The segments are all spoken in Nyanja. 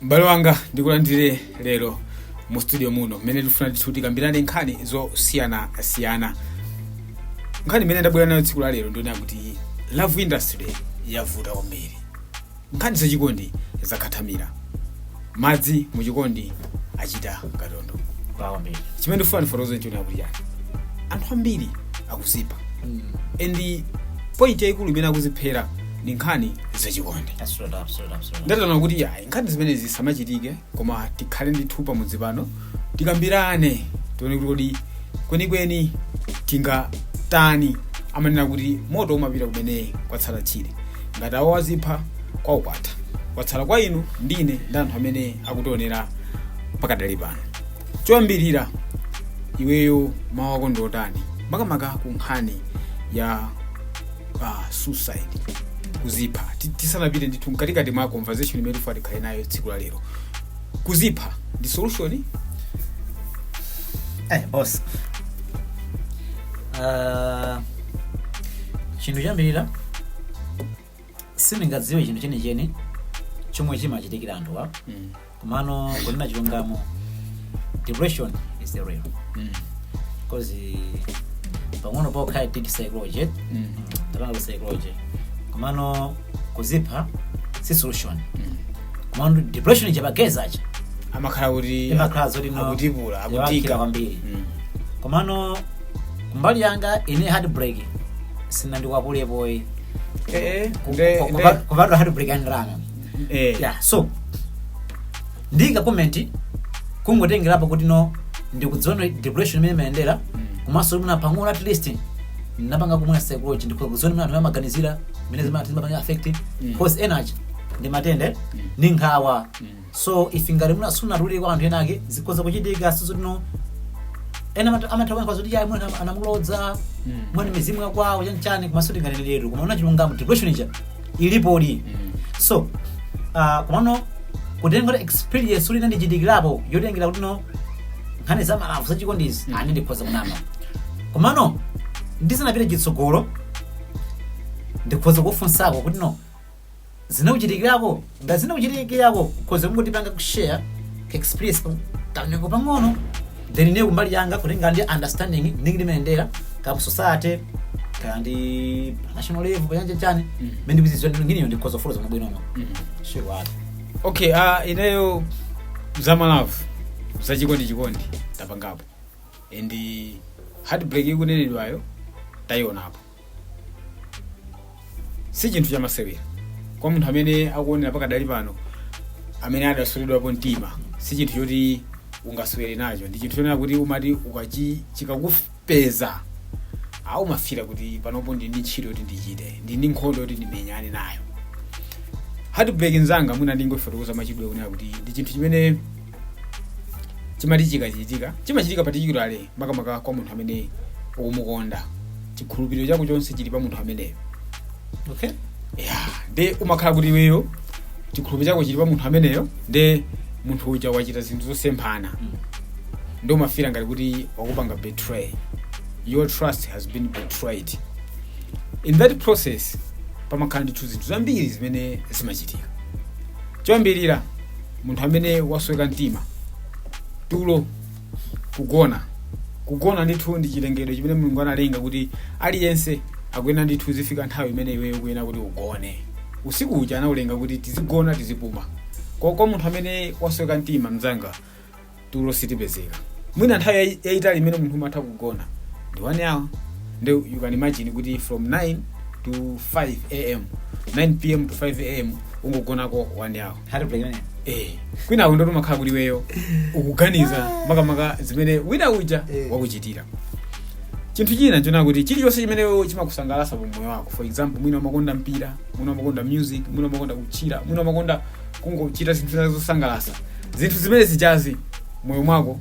m'bale wanga ndikulandire lero mu studio muno mmene tifuna ndithu tikambirane nkhani zosiyanasiyana nkhani imene ndabwera nayo tsiku la lero ndiona kuti love industry yavuta kwambiri nkhani zachikondi zakhathamira madzi muchikondi achita katondo pawambiri chimene ndifuna ndifotokoze ndiona kuti yayi anthu ambiri akuzipha and point yayikulu imene akuziphera ndi nkhani zachikondi Absolutely, absolutely, absolutely. ndataona kuti yayi nkhani zimenezi zisamachitike koma tikhale ndithu pamodzi pano tikambirane tione kuti kodi kwenikweni tingatani amanena kuti moto umapita kumene kwatsala tchire ngati awo azipha kwao kwatha kwatsala kwa inu ndine ndi anthu amene akutionera pakadali pano choyambirira iweyo mawu ako ndiotani makamaka ku nkhani ya suicide kuzipha Ti- tisanapite ndithu mkatikati mwa conversation imene tifuna tikhale nayo tsiku la lero kuzipha ndi solution eh boss Ah, chinthu choyambirira sindingadziwe chinthu chenicheni chomwe chimachitikira anthu a mm. komano kunena chilungamo depression is real Mm. because pang'ono pokha i did psychology eh? Mm. ndapangako psychology komano kuzipha si solution Mm. komano depression ija pagezacha amakhala kuti Imakhala zoti no- ikutipula Imakhala akuvutika kwambiri. Mm. komano kumbali yanga ine heartbreak siinandikwapulepoyi Eh, eh, nde- nde- kupatula heartbreak andiranga eh yeah so ndika comment kungotengerapo kuti no ndikudziwa depression mmene imayendera komanso mwina pang'ono at least ndinapangako mwe psychology ndikudziwa mmene anthu amaganizira mmene zimati zimapanga affect Mm. cause energy ndi matenda ndi nkhawa Mm. so if ngati mwina sunatulire kwa anthu ena ake zikhoza kuchitika sizoti no ena amat- amatha kuyankha zoti yayi mwana anamulodza Mm. mwana mizimu yakwawo chanchani komanso tinganeneletu kunena chilungamo depression ija ilipodi, so uh, komano kutengera experience kuti inandichitikirako yotengera kuti no nkhani za malavu za chikondizi mm. aa ndikhoza kunama komano ndisanapite chitsogolo ndikhoza kufunsako kuti no zinakuchitikirako ngati zinakuchitikirako khoza kungotipanga kushare experience pa- kanyengo pang'ono then ine kumbali yanga kutenga ndi understanding ndi mmene zimayendera kaya ku society kaya ndi pa national level chanichani Mm. mmene ndikuzidziwa ndi ineyo ndikhoza kufotokoza mwa bwinobwino Mm. sure wati okay uh, ineyo za malavu za chikondi chikondi tapangapo and heartbreak ikunenedwayo taionapo si chinthu chamasewera kwa munthu amene akuonera pakadali pano amene adasweredwapo mtima si chinthu choti ungasewere nacho ndi chinthu chonena kuti umati ukachi chikakupeza umafira kuti panopo ndi ndi ntchito yoti ndichite ndi ndi nkhondo yoti ndimenyane nayo heartbreak nzanga mwina ndingofotokoza mwachidule kunena kuti ndi chinthu chimene chimati chikachitika chimachitika particularly makamaka kwa munthu amene ukumukonda chikhulupiriro chako chonse chili pa munthu ameneyo okay ya nde umakhala kuti iweyo chikhulupiriro chako chili pa munthu ameneyo nde munthu uja wachita zinthu zosemphana Mm. nde umafira ngati kuti wakupanga betray your trust has been betrayed in that process pamakhala ndithu zinthu zambiri zimene zimachitika choyambirira munthu amene wasweka mtima tulo kugona kugona ndithu ndi chilengedwe chimene mulungu analenga kuti aliyense akuyenera ndithu zifika nthawi imene iweyo ukuyenera kuti ugone usiku uja anaulenga kuti tizigona tizipuma kwa kwa munthu amene wasweka mtima mzanga tulo situpezeka mwina nthawi yayi- yayitali imene munthu umatha kugona ndi 1 hour nde you can imagine kuti from 9 to 5 am 9 pm to 5 am ungogonako 1 hour heartbreak imeneyo eh kwinako ndoti umakhala kuti iweyo ukuganiza makamaka zimene wina uja Eh. wakuchitira chinthu china nchonena kuti chilichonse chimene iweyo chimakusangalatsa pa moyo wako for example mwina umakonda mpira mwina umakonda music mwina umakonda kutchira mwina umakonda kungochita zinthu zina zosangalatsa zinthu zimene zijazi mmoyo mwako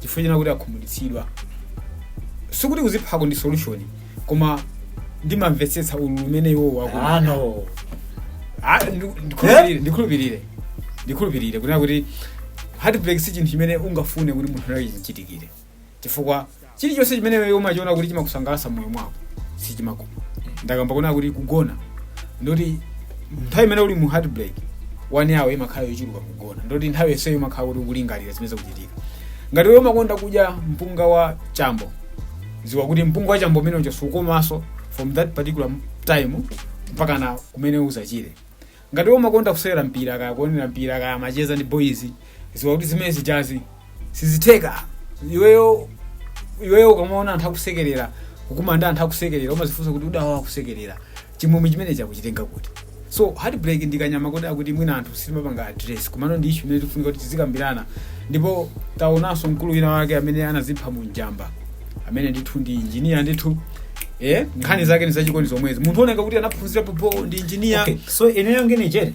chifukwa chonena kuti akhumudwitsidwa sikuti kuziphako ndi solution koma ndimamvetsetsa ululu umene iwowo akulu ano Ah, ndu- ndikhulupirire ndikhulupirire ndikhulupirire kunena kuti heartbreak si chinthu chimene ungafune kuti munthu wina chimuchitikire chifukwa chilichonse chimene iwe umachiona kuti chimakusangalatsa moyo mwako sichimakoma ndakamba kunena kuti kugona ndoti nthawi imene uli mu heartbreak 1 hour imakhala yochuluka kugona kugona ndoti nthawi yonseyo umakhala kuti ukulingalira zimene zikuchitika ngati iwe umakonda kudya mpunga wa chambo ziwa kuti mpunga wa chambo umene ujawo sukomanso from that particular time mpaka na kumene uzachire ngati iwe umakonda kusewera mpira kaya kuonera mpira kaya macheza ndi boys ziwa kuti zimene zijazi sizitheka iweyo iweyo ukamaona anthu akusekerera kukumana ndi anthu akusekerera umazifunsa kuti koda awa akusekerera chimwemwe chimenechi akuchitenga kuti so heartbreak ndi kanyama kodi koti mwina anthu sitimapanga address komano ndi issue imene ikufunika kuti tizikambirana ndipo taonanso mkulu wina wake amene anazipha mu njamba amene ndithu ndi injiniya ndithu eh nkhani zake ni zachikondi zomwezi munthu ooneka kuti anaphunzira pompo ndi injiniya okay so ineyo ngene jere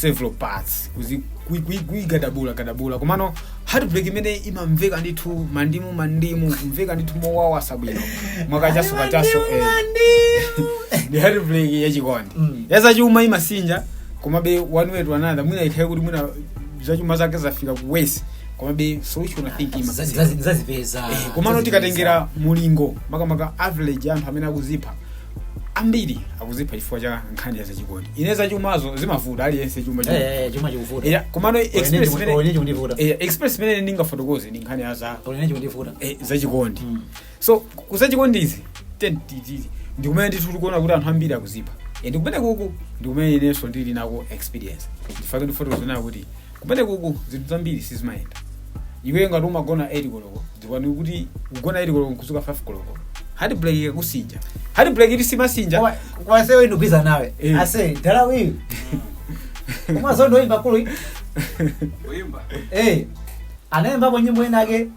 several parts kuzi- kui- kui- kuigadabula gadabula komano heartbreak imene imamveka ndithu mandimu mandimu kumveka ndithu mowawa osabwino mwakachaso kachaso eh. ndi heartbreak yachikondi Mm. yazachuma imasinja komabe one way to another mwina ikhale kuti mwina zachuma zake zafika ku worst komabe so which one I think ima Zazi- zazi- zazipeza Eh, komano tikatengera mulingo makamaka average anthu amene akuzipha ambiri akuzipha chifukwa cha nkhani ya zachikondi ine zachumazo zimavuta aliyense chuma chuma. Eh, eh, chuma chikuvuta Yeah, komano experience Oh yeah imene- olenye chikundivuta eh, experience imene ndingafotokoze ndi nkhani ya za olenye chikundivuta eh, zachikondi Mm. so ku zachikondizi ndikumene ndithu tikuona kuti anthu ambiri akuzipha Eh, ndikumene kuku ndikumene inenso ndili nako experience ndifake ndifotokoze nayo kuti kumenekuku zinthu zambiri sizimayenda iwe ngati umagona 8 koloko dziwani kuti kugona 8 koloko nkudzuka 5 koloko heartbreak ikakusinja heartbreak ili simasinja Kwa- kwa asewe ndikuuza nawe Eh. ase dala uyu Namadingo oyimba mkulu uyu. Uyimba. Eh, anayimbapo nyimbo inake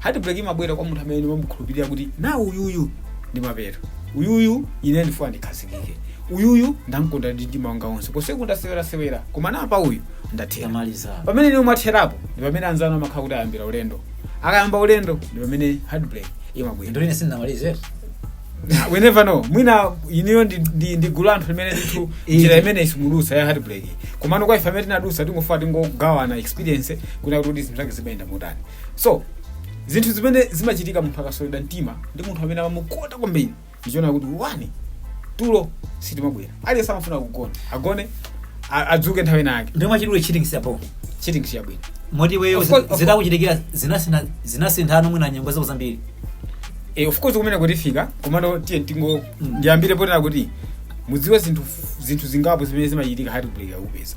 heartbreak imabwera kwa munthu amene umamukhulupirira kuti na uyuyu ndi mapeto uyuyu ine ndifuna ndikhazikike uyuyu ndamkonda ndi mtima wanga wonse konseku ndasewerasewera koma napa uyu ndathera tamaliza pamene inu mwatherapo ndi pamene anzanu amakhala kuti ayambira ulendo akayamba ulendo ndi pamene heartbreak imabwera nde ine sindinamalize we never know mwina inuyo ndi, ndi, ndi gulu la anthu limene ndithu Eh. njira imene simunadutse ya heartbreak komano kwa ife amene tinadutsa tingofa tingogawana experience kunena kuti zinthu zake zimayenda motani so zinthu zimene zimachitika munthu akaswedwa mtima ndi munthu amene amamukonda kwambiri ndichonena kuti one tulo sitimabwera aliyense samafuna kugona agone a- adzuke nthawi ina yake nde mwachidule cheating siapo cheating siyabwino moti iwe Of course, of course. zitakuchitikira zinasina zinasintha mwina nyengo zako zambiri e, of course kumene kutifika komano tiye tingo Mm. ndiyambire potera kuti mudziwe zinthu zinthu zingapo zimene zimachitika heartbreak ikakupeza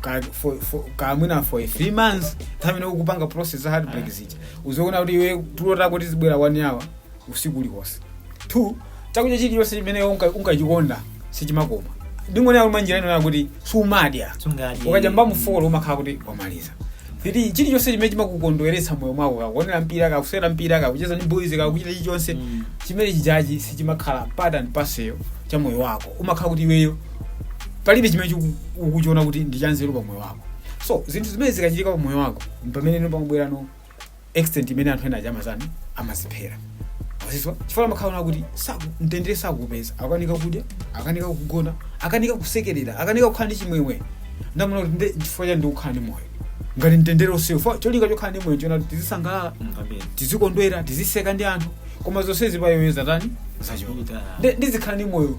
ka- for- for- kamwina for three months nthawi imene ukupanga process za heartbreak zija uzaona kuti iwe tulo tako tizibwera one hour usiku uliwonse two chakudya chilichonse chimene unka- unkachikonda sichimakoma ndingonena mwa njira ina yakuti sumadya Sungadye. ukadya mbamu four umakhala kuti wamaliza three chilichonse chimene chimakukondweretsa moyo mwako kaya kuonera mpira kaya kusewera mpira kaya kucheza ndi boys kaya kuchita chilichonse Mm. chimene chijachi sichimakhala part and parcel cha moyo wako umakhala kuti iweyo palibe chimene chiku- ukuchiona kuti ndi chanzeru pa moyo wako so zinthu zimene zikachitika pa moyo wako mpamene no pamabwera no extent imene anthu ena ajamazanu amadziphera azizwa chifukwa amaona kuti saku- mtendere sakupeza akanika kudya akanika kugona akanika kusekerera akanika kukhala ndi chimwemwe nde amaona kuti nde chifukwa chani ndikukhala ndi moyo ngati mtendere ulibe so cholinga chokhala ndi moyo nchonena kuti tizisangalala Amen. tizikondwera tiziseka ndi anthu koma zonsezi pa iwoyo zatani zachoka Ndi- ndizikhala ndi moyo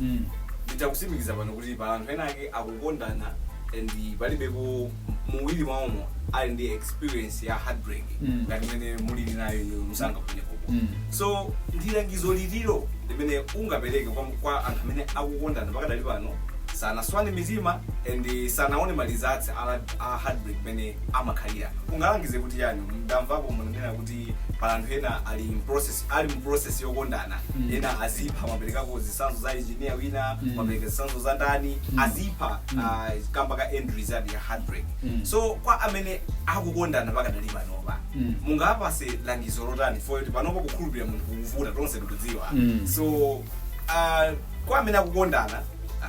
mm. nditakusimikiza pano kuti pa anthu ena ake akukondana and palibepo muwiri mwaomo ali ndi experience ya heartbreak Mm. ngati imene mulili nayo inu msanga kunekopo Mm. so ndi langizo lililo limene ungapereke kwa, kwa anthu amene akukondana pakadali pano sanaswane mitima and sanaone malizatsi a, a heartbreak imene amakhalira ungalangize kuti yani mdamvapo munanena kuti kuti pala anthu ena ali in process ali mu process yokondana Mm. ena azipha maperekako zisanzo za engineer wina Mm. mapereka zisanzo za ndani Mm. azipha Mm. ah, kamba ka end result ya heartbreak Mm. so kwa amene akukondana pakadali panopa Mm. mungawapatse langizo lotani for kuti panopa kukhulupirira munthu kukuvuta tonse tikudziwa Mm. so ah, kwa amene akukondana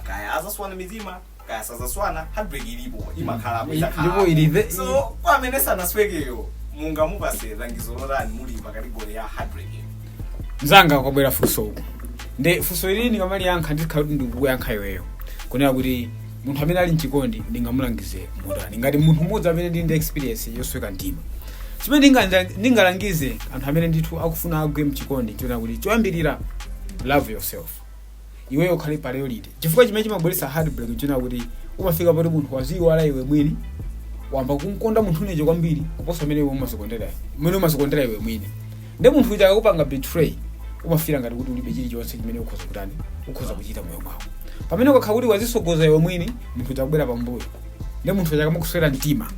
kaya azaswana mitima kaya sazaswana heartbreak ilipo imakhalapo ndipo ilive so kwa amene sanaswekeyo mungamupatse langizo lotani muli pa category ya heartbreak mzanga kwabwera funso uku nde funso ili ndikamaliyankha ndikhala kuti ndikukuyankha iweyo kunena kuti munthu amene ali mchikondi ndingamulangize motani ngati munthu mmodzi amene ndili ndi experience yosweka mtima chimene ndinga- ndingalangize anthu amene ndithu akufuna agwe mchikondi chonena kuti choyambirira love yourself iweyo ukhale priority chifukwa chimene chimabweretsa heartbreak nchonena kuti umafika poti munthu waziyiwala iwe mwini wamba kumkonda munthu uja kwambiri kuposa mmene iwe umazikondera mmene umazikondera iwe mwini nde munthu uja akakupanga betray umafila ngati kuti ulibe chilichonse chimene ukhoza kutani ukhoza kuchita mmoyo mwako pamene ukakhala kuti wazisogoza iwe mwini munthu uja akubwera pambuyo nde munthu uja akamakuswera mtima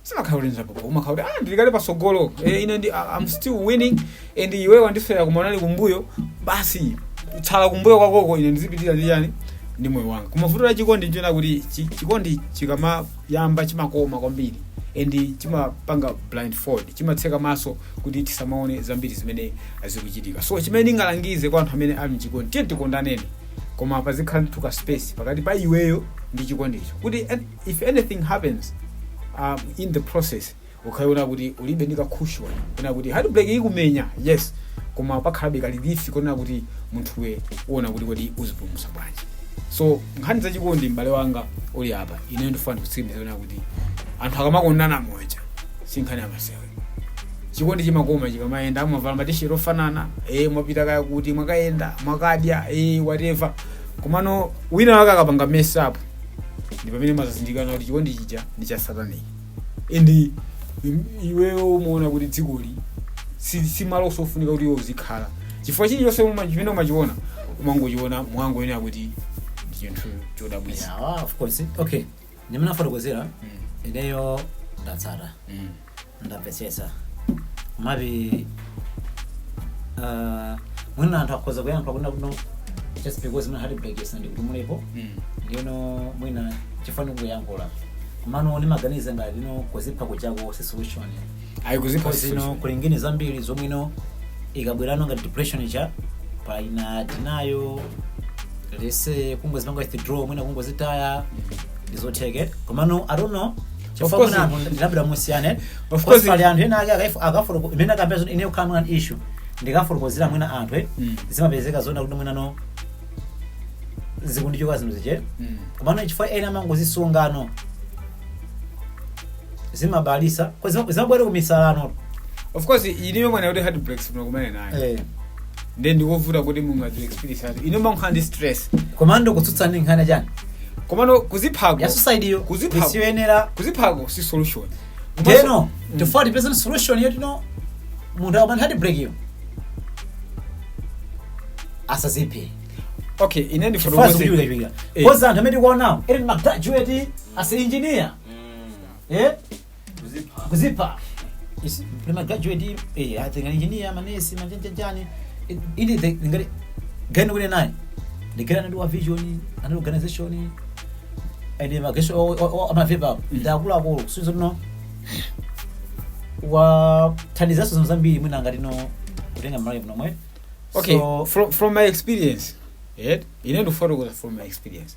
sizimakhala kuti nzapopo umakhala kuti ah ndili kale patsogolo eh, ine ndi I- I'm still winning and iwe wandiswera koma unali kumbuyo basi tsala kumbuyo kwakoko ine ndizipitirira ndi yani ndi moyo wanga koma vuto la chikondi nchonena kuti chi- chikondi chikamayamba chimakoma kwambiri and chimapanga blindfold chimatseka maso kuti tisamaone zambiri zimene zikuchitika so chimene ndingalangize kwa anthu amene ali mchikondi tiye tikondaneni koma pazikhala ndithu ka space pakati pa iweyo ndi chikondicho kuti eh, if anything happens um, in the process ukhale kunena kuti ulibe ndi ka cushion kunena kuti heartbreak ikumenya yes koma pakhalabe ka relief kunena kuti munthuwe uona kuti kodi uzipulumutsa bwanji so nkhani zachikondi m'bale wanga uli apa ineyo ndifuna ndikutsimikizire kunena kuti anthu akamakondana moja si nkhani yamasewera chikondi chimakoma chikamayenda amavala matisheti ofanana e mwapita kaya kuti mwakayenda mwakadya e whatever komano wina wake akapanga mess up ndi pamene umazazindikira kuti chikondi chija ndi cha satanic and i- iweyo umaona kuti dzikoli si si malo ofunika kuti iwe uzikhala chifukwa chilichonse uma- chimene umachiona umangochiona mwangoyenera kuti ndi chinthu chodabwitsa Yeah, of course okay ndimene afotokozera Mm, ineyo ndatsata mm. ndamvetsetsa maybe uh, mwina anthu akhoza kuyankha kunena kuno just because mwina heartbreak si ndi kuti mulipo Mm. ndino mwina chifukwa chani kuyankhula komano ndimaganiza ngati ino kuzipha kuchako si solution ayi kuzipha because ino kuli ngini zambiri zomwe ino ikabwerano ngati depression cha pena tinayo lese kungozipanga withdraw mwina kungozitaya ndizotheke komano i don't know Of course. ndikambira musiyane Of course. pali anthu ena ake akaifu- akafuluku- imene akambira zoti ine kukhala mwina issue ndikafotokozera mwina anthu eh, Mm. zimapezeka zona kuti mwinano zikundichoka zinthu zija Mm. komano chifukwa ena amangozisungano zimabalisa kwa zima- zimabwera kumisalano of course iliyo mwana kuti heartbreaks munakumane nayo eh, nde ndikovuta kuti munthu adziwe experience yake ino umakhala ndi stress komano kutsutsa ndi nkhani chani komano kuziphako ya society yo kuziphako isiyoyenera kuziphako si solution ndeno Mm. tifuna tipeze solution yoti no munthu akapanga heart break yo asaziphe okay ine chifukwa ndifotokoze zikuchiwikachiwika Eh. cause anthu amene tikuonawo ene ndi magraduate as engineer eh kuzipha kuzipha Isi- kuli magraduate eh, ma engineer manesi ma chanichani ili the- ngati gani kuli naye ndigera anali wa vision anali organization ene mageso amavepa apo ndi akuluakulu kusuiza tino wathandizanso zinthu zambiri mwina ngati no kutenga mmalawi muno mwe okay So- from, from my experience yeah? ine ndikufotokoza from my experience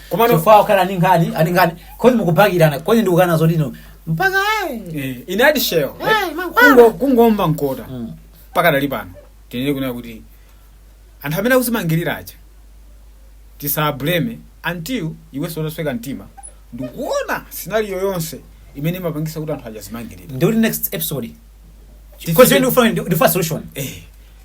Komano- chifukwa okhala ndi nkhani ani nkhani cause mukubakirana cause ndikukana zoti ino mpaka eh. Eh, in addition Eh, mankhwala. kungo- kungoomba mkota Mm. pakadali pano tinene kunena kuti anthu amene akuzimangirira aja tisawablame until iwenso utasweka mtima ndikuona scenario yonse imene imapangisa kuti anthu aja azimangirira ndikuti next episode Tichite- cause ndikufuna ndikufuna solution eh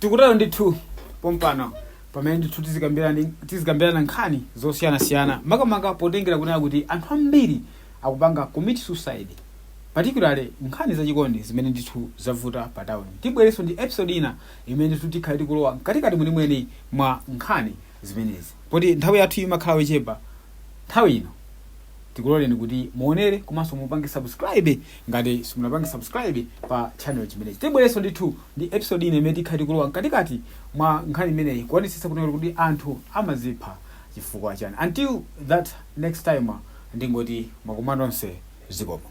tikutero ndithu pompano pamene ndithu tizikambirana tizikambirana nkhani zosiyanasiyana makamaka potengera kunena kuti anthu ambiri akupanga commit suicide particularly nkhani zachikondi zimene ndithu zavuta pa town tibwerenso ndi episode ina imene ndithu tikhale tikulowa mkatikati mwenimweni mwa nkhani zimenezi poti nthawi yathu imakhala yochepa Nthawi ino tikuloleni kuti muonere komanso mupange subscribe ngati simunapange subscribe pa channel chimenechi. Tibwerenso ndithu ndi episode ina imene tikhala tikulowa mkatikati mwa nkhani imeneyi kuonetsetsa kuti kuti anthu amazipha chifukwa chani. Until that next time ndingoti ndimakukondani nonse zikomo.